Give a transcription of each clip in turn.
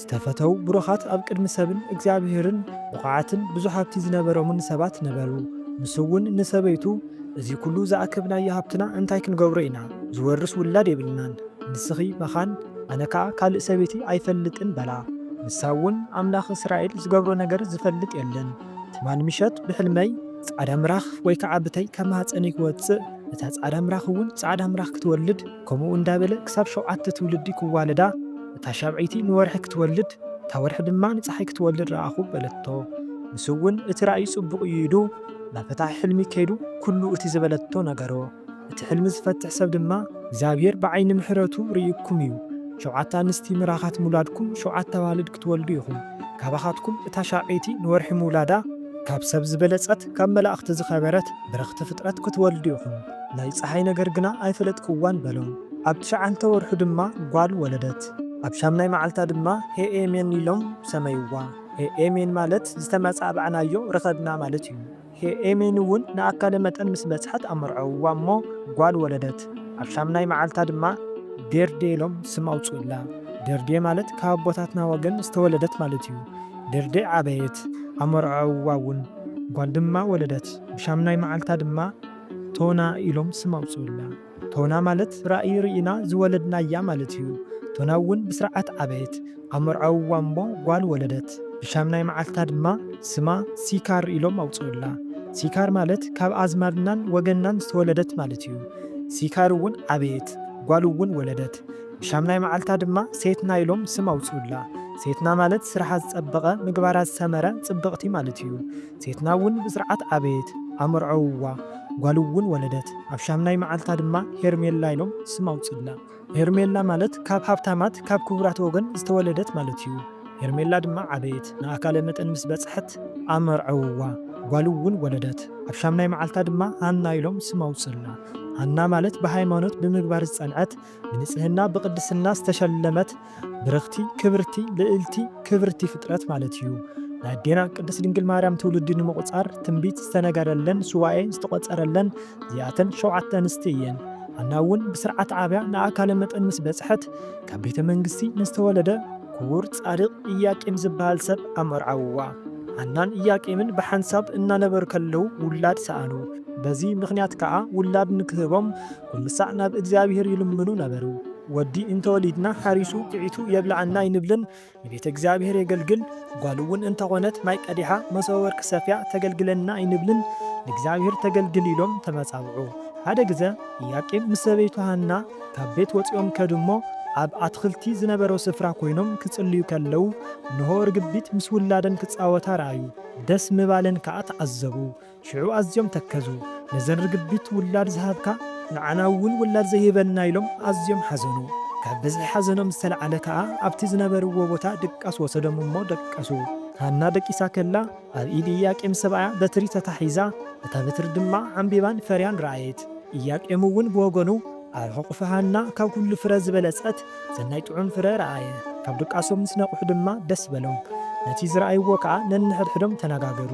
ዝተፈተዉ ብሩኻት ኣብ ቅድሚ ሰብን እግዚኣብሄርን ብቑዓትን ብዙሕ ሃብቲ ዝነበሮምን ሰባት ነበሩ። ንሱ'ውን ንሰበይቱ፣ እዚ ኵሉ ዝኣከብናዮ ሃብትና እንታይ ክንገብሮ ኢና? ዝወርስ ውላድ የብልናን። ንስኺ መኻን፣ ኣነ ከኣ ካልእ ሰበይቲ ኣይፈልጥን በላ። ንሳ'ውን፣ ኣምላኽ እስራኤል ዝገብሮ ነገር ዝፈልጥ የለን። ትማሊ ምሸት ብሕልመይ፣ ጻዕዳ ምራኽ ወይ ከኣ ብተይ ካብ ማህጸነይ ክወጽእ፣ እታ ጻዕዳ ምራኽ'ውን ጻዕዳ ምራኽ ክትወልድ፣ ከምኡ እንዳበለ ክሳብ ሸውዓተ ትውልዲ ክዋለዳ፣ እታ ሻብዐይቲ ንወርሒ ክትወልድ፣ እታ ወርሒ ድማ ንጸሓይ ክትወልድ ረኣኹ በለቶ። ንሱውን እቲ ራእይ ጽቡቕ እዩ ኢሉ ናብ ፈታሒ ሕልሚ ከይዱ ኩሉ እቲ ዝበለቶ ነገሮ። እቲ ሕልሚ ዝፈትሕ ሰብ ድማ፣ እግዚኣብሄር ብዓይኒ ምሕረቱ ርእዩኩም እዩ፣ ሸውዓተ ኣንስቲ ምራኻት ምውላድኩም ሸውዓተ ኣዋልድ ክትወልዱ ኢኹም፣ ካባኻትኩም እታ ሻብዐይቲ ንወርሒ ምውላዳ፣ ካብ ሰብ ዝበለጸት ካብ መላእኽቲ ዝኸበረት ብርኽቲ ፍጥረት ክትወልዱ ኢኹም። ናይ ጸሓይ ነገር ግና ኣይፈለጥክዋን በሎም። ኣብ ትሽዓንተ ወርሑ ድማ ጓል ወለደት። ኣብ ሻምናይ መዓልታ ድማ ሄኤ-ሜን ኢሎም ሰመይዋ። ሄኤ-ሜን ማለት ዝተመጻዕባዕናዮ ረኸብና ማለት እዩ። ሄኤ-ሜን'ውን ንኣካለ መጠን ምስ በጽሐት ኣመርዐውዋ እሞ ጓል ወለደት። ኣብ ሻምናይ መዓልታ ድማ ዴርዴ ኢሎም ስም ኣውጽኡላ። ዴርዴ ማለት ካብ ኣቦታትና ወገን ዝተወለደት ማለት እዩ። ዴርዴ ዓበየት፣ ኣመርዐውዋ'ውን። ጓል ድማ ወለደት። ብሻምናይ መዓልታ ድማ። ቶና ኢሎም ስም ኣውጽኡላ። ቶና ማለት ራእይ ርኢና ዝወለድናያ ማለት እዩ። ቶና እውን ብስርዓት ዓበየት። ኣብ መርዓዊ ዋንቦ ጓል ወለደት። ብሻምናይ መዓልታ ድማ ስማ ሲካር ኢሎም ኣውጽኡላ። ሲካር ማለት ካብ ኣዝማድናን ወገንናን ዝተወለደት ማለት እዩ። ሲካር እውን ዓበየት። ጓል እውን ወለደት። ብሻምናይ መዓልታ ድማ ሴትና ኢሎም ስም ኣውጽኡላ። ሴትና ማለት ስርሓ ዝጸበቐ፣ ምግባራ ዝሰመረ፣ ጽብቕቲ ማለት እዩ። ሴትና እውን ብስርዓት ኣበየት፣ ኣመርዐውዋ፣ ጓል እውን ወለደት። ኣብ ሻምናይ መዓልታ ድማ ሄርሜላ ኢሎም ስም ኣውፅእላ። ሄርሜላ ማለት ካብ ሃብታማት፣ ካብ ክቡራት ወገን ዝተወለደት ማለት እዩ። ሄርሜላ ድማ ዓበየት፣ ንኣካለ መጠን ምስ በፅሐት ኣመርዐውዋ፣ ጓል እውን ወለደት። ኣብ ሻምናይ መዓልታ ድማ ሃና ኢሎም ስም ኣውፅእላ። ሃና ማለት ብሃይማኖት፣ ብምግባር ዝፀንዐት፣ ብንጽህና ብቅድስና ዝተሸለመት ብርኽቲ ክብርቲ ልእልቲ ክብርቲ ፍጥረት ማለት እዩ። ንኣዴና ቅድስት ድንግል ማርያም ትውልዲ ንምቁጻር ትንቢት ዝተነገረለን ሱባኤ ዝተቆጸረለን እዚኣተን ሸውዓተ ኣንስቲ እየን። ሃና እውን ብስርዓት ዓብያ ንኣካለ መጠን ምስ በጽሐት ካብ ቤተ መንግስቲ ንዝተወለደ ክቡር ጻድቅ እያቄም ዝበሃል ሰብ ኣመርዓውዋ። ሃናን እያቄምን ብሓንሳብ እናነበሩ ከለዉ ውላድ ሰኣኑ። በዚ ምኽንያት ከኣ ውላድ ንክህቦም ኩሉሳዕ ናብ እግዚኣብሔር ይልምኑ ነበሩ። ወዲ እንተወሊድና ሓሪሱ ኲዒቱ የብልዓና ኣይንብልን፣ ንቤተ እግዚኣብሔር የገልግል፣ ጓሉ'ውን እንተኾነት ማይ ቀዲሓ መሶበ ወርቂ ሰፍያ ተገልግለና ኣይንብልን፣ ንእግዚኣብሔር ተገልግል ኢሎም ተመጻብዑ። ሓደ ግዘ ኢያቄም ምስ ሰበይቱ ሃና ካብ ቤት ወጺኦም ከዱ እሞ ኣብ ኣትኽልቲ ዝነበሮ ስፍራ ኮይኖም ክጽልዩ ከለዉ እንሆ ርግቢት ምስ ውላደን ክጻወታ ረኣዩ፣ ደስ ምባለን ከኣ ተዓዘቡ። ሽዑ ኣዝዮም ተከዙ፣ ነዘን ርግቢት ውላድ ዝሃብካ ንዓና እውን ውላድ ዘይህበና ኢሎም ኣዝዮም ሓዘኑ። ካብ ብዝሒ ሓዘኖም ዝተላዕለ ከኣ ኣብቲ ዝነበርዎ ቦታ ድቃስ ወሰዶም እሞ ደቀሱ። ሃና ደቂሳ ከላ ኣብ ኢድ ኢያቄም ሰብኣያ በትሪ ተታሒዛ፣ እታ በትሪ ድማ ዓምቢባን ፈርያን ረኣየት። ኢያቄም እውን ብወገኑ፣ ኣብ ሕቑፊ ሃና ካብ ኩሉ ፍረ ዝበለጸት ሰናይ ጥዑም ፍረ ረኣየ። ካብ ድቃሶም ምስ ነቕሑ ድማ ደስ በሎም፣ ነቲ ዝረኣይዎ ከኣ ነንሕድሕዶም ተነጋገሩ።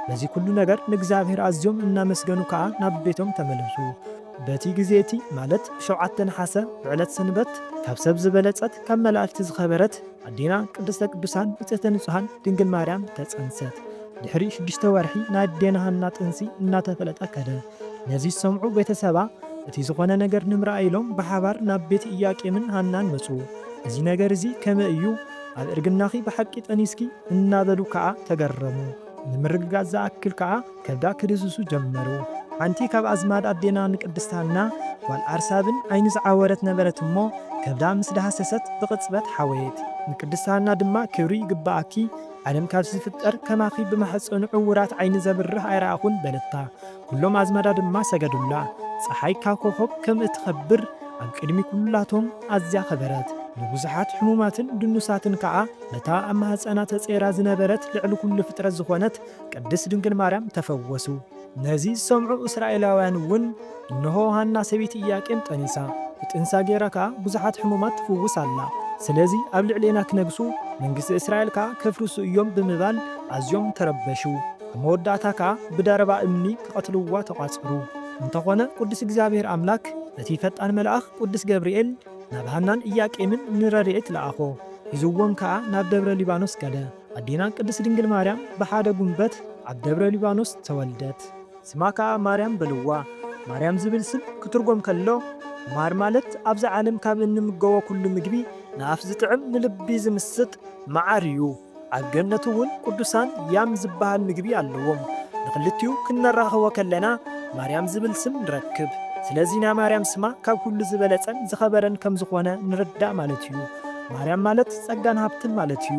በዚ ኩሉ ነገር ንእግዚኣብሔር ኣዝዮም እናመስገኑ ከኣ ናብ ቤቶም ተመለሱ። በቲ ግዜ እቲ ማለት ብሸውዓተ ነሓሰ ብዕለት ሰንበት ካብ ሰብ ዝበለጸት ካብ መላእክት ዝኸበረት ኣዴና ቅድስተ ቅዱሳን ንጽህተ ንጹሃን ድንግል ማርያም ተጸንሰት። ድሕሪ ሽዱሽተ ወርሒ ናይ ኣዴና ሃና ጥንሲ እናተፈለጠ ከደ። ነዚ ዝሰምዑ ቤተ ሰባ፣ እቲ ዝዀነ ነገር ንምርኣይ ኢሎም ብሓባር ናብ ቤት ኢያቄምን ሃናን መጹ። እዚ ነገር እዚ ከመይ እዩ? ኣብ እርግናኺ ብሓቂ ጠኒስኪ? እናበሉ ከኣ ተገረሙ። ንምርግጋጽ ዝኣክል ከኣ ከብዳ ክድህስሱ ጀመሩ። ሓንቲ ካብ ኣዝማድ ኣዴና ንቅድስት ሃና፣ ጓል ኣርሳብን፣ ዓይኒ ዝዓወረት ነበረት እሞ፣ ከብዳ ምስ ደሃሰሰት ብቕጽበት ሓወየት። ንቅድስት ሃና ድማ ክብሪ ይግብኣኪ፣ ዓለም ካብ ዝፍጠር ከማኺ ብማሕጸኑ ዕዉራት ዓይኒ ዘብርህ ኣይረኣኹን በለታ። ኩሎም ኣዝማዳ ድማ ሰገዱላ። ጸሓይ ካብ ኮኾብ ከም እትኸብር ኣብ ቅድሚ ኩላቶም ኣዝያ ከበረት። ንብዙሓት ሕሙማትን ድኑሳትን ከኣ በታ ኣብ ማህጸና ተጸይራ ዝነበረት ልዕሊ ኩሉ ፍጥረት ዝኾነት ቅድስት ድንግል ማርያም ተፈወሱ። ነዚ ዝሰምዑ እስራኤላውያን እውን፣ እንሆ፣ ሃና ሰበይቲ እያቄም ጠኒሳ፣ ብጥንሳ ገይራ ከኣ ብዙሓት ሕሙማት ትፍውስ ኣላ፣ ስለዚ ኣብ ልዕሌና ኪነግሱ፣ መንግስቲ እስራኤል ከኣ ኬፍርሱ እዮም ብምባል ኣዝዮም ተረበሹ። ኣብ መወዳእታ ከኣ ብደረባ እምኒ ኪቐትልዋ ተቋጸሩ። እንተኾነ ቅዱስ እግዚኣብሔር ኣምላክ፣ እቲ ፈጣን መልኣኽ ቅዱስ ገብርኤል፣ ናብ ሃናን እያቄምን ንረድኤት ለኣኾ፣ ሒዝዎም ከኣ ናብ ደብረ ሊባኖስ ከደ። ኣዴና ቅድስት ድንግል ማርያም ብሓደ ጉንበት ኣብ ደብረ ሊባኖስ ተወልደት። ስማ ከኣ ማርያም በልዋ። ማርያም ዝብል ስም ክትርጎም ከሎ ማር ማለት ኣብዚ ዓለም ካብ እንምገቦ ኩሉ ምግቢ ንኣፍ ዝጥዕም ንልቢ ዝምስጥ መዓር እዩ። ኣብ ገነት እውን ቅዱሳን ያም ዝበሃል ምግቢ ኣለዎም። ንክልቲኡ ክነራኽቦ ከለና ማርያም ዝብል ስም ንረክብ። ስለዚ ናይ ማርያም ስማ ካብ ኩሉ ዝበለጸን ዝኸበረን ከምዝኾነ ንርዳእ ማለት እዩ። ማርያም ማለት ጸጋን ሃብትን ማለት እዩ።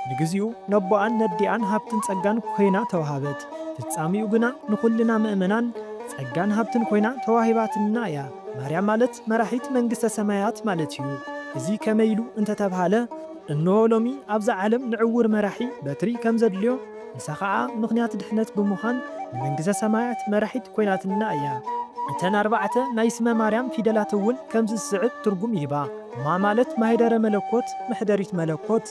ንግዚኡ ነቦኣን ነዲኣን ሃብትን ጸጋን ኮይና ተውሃበት። ፍጻሜኡ ግና ንኹልና ምእመናን ጸጋን ሃብትን ኮይና ተዋሂባትንና እያ። ማርያም ማለት መራሒት መንግስተ ሰማያት ማለት እዩ። እዚ ከመይ ኢሉ እንተ ተብሃለ እንሆ ሎሚ ኣብዛ ዓለም ንዕዉር መራሒ በትሪ ከም ዘድልዮ ንሳ ኸኣ ምኽንያት ድሕነት ብምዃን ንመንግሰ ሰማያት መራሒት ኮይናትንና እያ። እተን ኣርባዕተ ናይ ስመ ማርያም ፊደላት እውን ከምዚ ዝስዕብ ትርጉም ይህባ። ማ ማለት ማኅደረ መለኮት፣ መኅደሪት መለኮት፣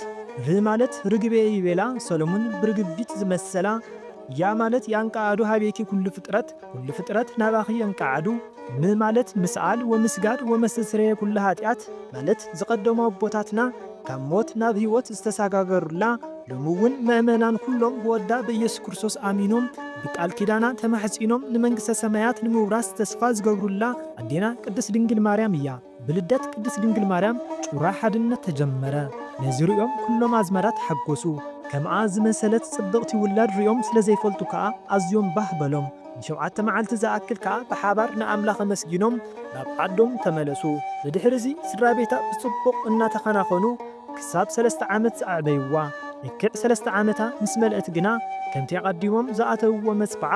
ር ማለት ርግቤ ይቤላ ሰሎሙን ብርግቢት ዝመሰላ፣ ያ ማለት ያንቀዓዱ ኀቤኪ ኵሉ ፍጥረት፣ ኵሉ ፍጥረት ናባኺ የንቀዓዱ፣ ም ማለት ምስኣል ወምስጋድ ወመስተስረየ ኵሉ ኃጢኣት ማለት ዝቐደሙ ኣቦታትና ካብ ሞት ናብ ሕይወት ዝተሳጋገሩላ ሎሚ'ውን መእመናን ኵሎም ብወዳ ብኢየሱስ ክርስቶስ ኣሚኖም ብቃል ኪዳና ተማሕጺኖም ንመንግሥተ ሰማያት ንምውራስ ተስፋ ዝገብሩላ ኣዴና ቅድስት ድንግል ማርያም እያ። ብልደት ቅድስት ድንግል ማርያም ጩራ ሓድነት ተጀመረ። ነዚ ርእዮም ኩሎም ኣዝማዳ ተሓጎሱ። ከምኣ ዝመሰለት ጽብቕቲ ውላድ ርእዮም ስለ ዘይፈልጡ ከኣ ኣዝዮም ባህ በሎም። ንሸውዓተ መዓልቲ ዝኣክል ከኣ ብሓባር ንኣምላኽ ኣመስጊኖም ናብ ዓዶም ተመለሱ። ብድሕርዚ ስድራ ቤታ ብጽቡቕ እናተኸናኸኑ ክሳብ ሰለስተ ዓመት ኣዕበይዋ። ልክዕ ሰለስተ ዓመታ ምስ መልአት ግና ከምቲ ኣቐዲሞም ዝኣተውዎ መጽብዓ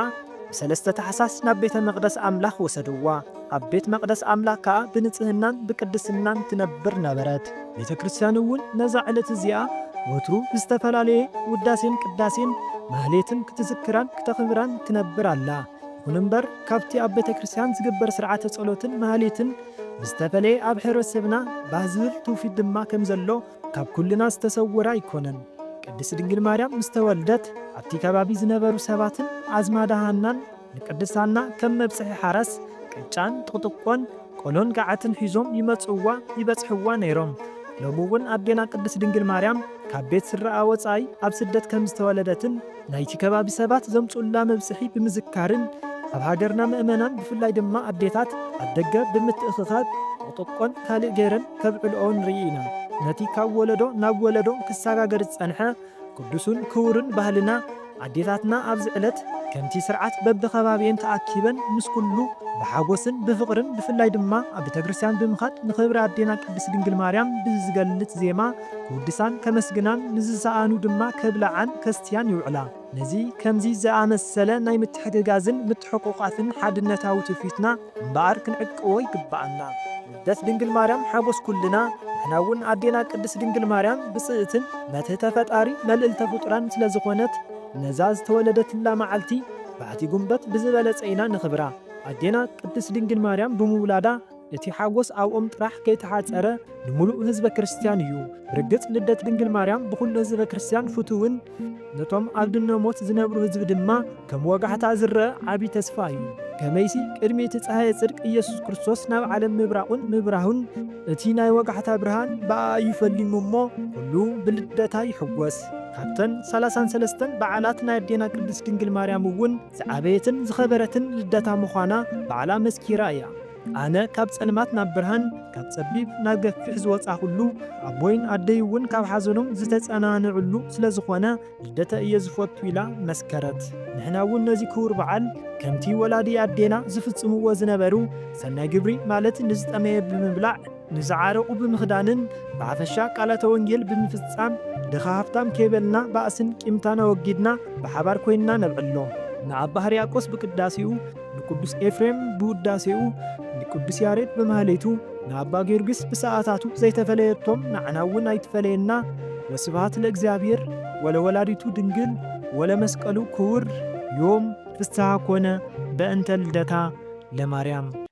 ብሰለስተ ታሕሳስ ናብ ቤተ መቕደስ ኣምላኽ ወሰድዋ። ኣብ ቤት መቕደስ ኣምላኽ ከኣ ብንጽህናን ብቅድስናን ትነብር ነበረት። ቤተ ክርስቲያን እውን ነዛ ዕለት እዚኣ ወትሩ ብዝተፈላለየ ውዳሴን ቅዳሴን ማኅሌትን ክትዝክራን ክተኽብራን ትነብር ኣላ። ይኹን እምበር ካብቲ ኣብ ቤተ ክርስቲያን ዝግበር ሥርዓተ ጸሎትን ማኅሌትን ብዝተፈለየ ኣብ ኅብረተሰብና ባህ ዝብል ትውፊት ድማ ከም ዘሎ ካብ ኩልና ዝተሰወረ ኣይኮነን። ቅድስት ድንግል ማርያም ምስ ተወልደት ኣብቲ ከባቢ ዝነበሩ ሰባትን ኣዝማዳ ሃናን፣ ንቅድስት ሃና ከም መብጽሒ ሓራስ ቅጫን ጥቕጥቆን ቆሎን ገዓትን ሒዞም ይመጽእዋ ይበጽሕዋ ነይሮም። ሎሚ እውን ኣዴና ቅድስት ድንግል ማርያም ካብ ቤት ስድራኣ ወጻኢ ኣብ ስደት ከም ዝተወለደትን ናይቲ ከባቢ ሰባት ዘምጽኡላ መብጽሒ ብምዝካርን ኣብ ሃገርና ምእመናን ብፍላይ ድማ ኣዴታት ኣብ ደገ ብምትእኽኻብ ጥቕጥቆን ካልእ ገይረን ከብዕልኦ ንርኢ ኢና። ነቲ ካብ ወለዶ ናብ ወለዶ ክሰጋገር ዝጸንሐ ቅዱሱን ክቡርን ባህልና ኣዴታትና ኣብዚ ዕለት ከምቲ ስርዓት በብከባቢኤን ተኣኪበን ምስ ኩሉ ብሓጎስን ብፍቅርን ብፍላይ ድማ ኣብ ቤተክርስትያን ብምኻድ ንክብሪ ኣዴና ቅድስት ድንግል ማርያም ብዝገልጽ ዜማ ክውድሳን ከመስግናን ንዝሰኣኑ ድማ ከብልዓን ከስትያን ይውዕላ ነዚ ከምዚ ዝኣመሰለ ናይ ምትሕግጋዝን ምትሕቁቃፍን ሓድነታዊ ትውፊትና እምበኣር ክንዕቅቦ ይግበኣና። ልደት ድንግል ማርያም ሓጎስ ኩልና ንሕና እውን ኣዴና ቅድስት ድንግል ማርያም ብፅእትን መትህተ ፈጣሪ መልእልተ ፍጡራን ስለ ዝኾነት ነዛ ዝተወለደትላ መዓልቲ ባሕቲ ጉንበት ብዝበለፀ ኢና ነኽብራ ኣዴና ቅድስት ድንግል ማርያም ብምውላዳ እቲ ሓጎስ ኣብኦም ጥራሕ ከይተሓፀረ ንሙሉእ ህዝበ ክርስትያን እዩ ብርግፅ ልደት ድንግል ማርያም ብኹሉ ህዝበ ክርስትያን ፍቱውን ነቶም ኣብ ድነ ሞት ዝነብሩ ህዝቢ ድማ ከም ወጋሕታ ዝረኣ ዓቢ ተስፋ እዩ። ከመይሲ ቅድሚ እቲ ጸሃየ ጽድቅ ኢየሱስ ክርስቶስ ናብ ዓለም ምብራቑን ምብራሁን እቲ ናይ ወጋሕታ ብርሃን ብኣኣ እዩ ፈሊሙ እሞ ኩሉ ብልደታ ይሕጎስ። ካብተን ሰላሳን ሰለስተን በዓላት ናይ ኣዴና ቅድስት ድንግል ማርያም እውን ዝዓበየትን ዝኸበረትን ልደታ ምዃና ባዕላ መስኪራ እያ። ኣነ ካብ ጸልማት ናብ ብርሃን፣ ካብ ጸቢብ ናብ ገፊሕ ዝወጻኹሉ፣ ኣቦይን ኣደይ'ውን ካብ ሓዘኖም ዝተጸናንዕሉ ስለ ዝኾነ ልደተ እየ ዝፈቱ ኢላ መስከረት። ንሕና'ውን ነዚ ክቡር በዓል ከምቲ ወላዲ ኣዴና ዝፍጽምዎ ዝነበሩ ሰናይ ግብሪ ማለት ንዝጠመየ ብምብላዕ፣ ንዝዓረቑ ብምኽዳንን ብሓፈሻ ቃላተ ወንጌል ብምፍጻም ድኻ ሃብታም ከይበልና ባእስን ቂምታን ኣወጊድና ብሓባር ኮይንና ነብዕሎ። ንኣባ ሕርያቆስ ብቅዳሴኡ፣ ንቅዱስ ኤፍሬም ብውዳሴኡ፣ ንቅዱስ ያሬድ ብማህሌቱ፣ ንኣባ ጊዮርጊስ ብሰዓታቱ ዘይተፈለየቶም ንዓና እውን ኣይትፈለየና ወስብሃት ለእግዚኣብሔር ወለወላዲቱ ድንግል ወለመስቀሉ ክቡር ዮም ፍስሃ ኮነ በእንተ ልደታ ለማርያም።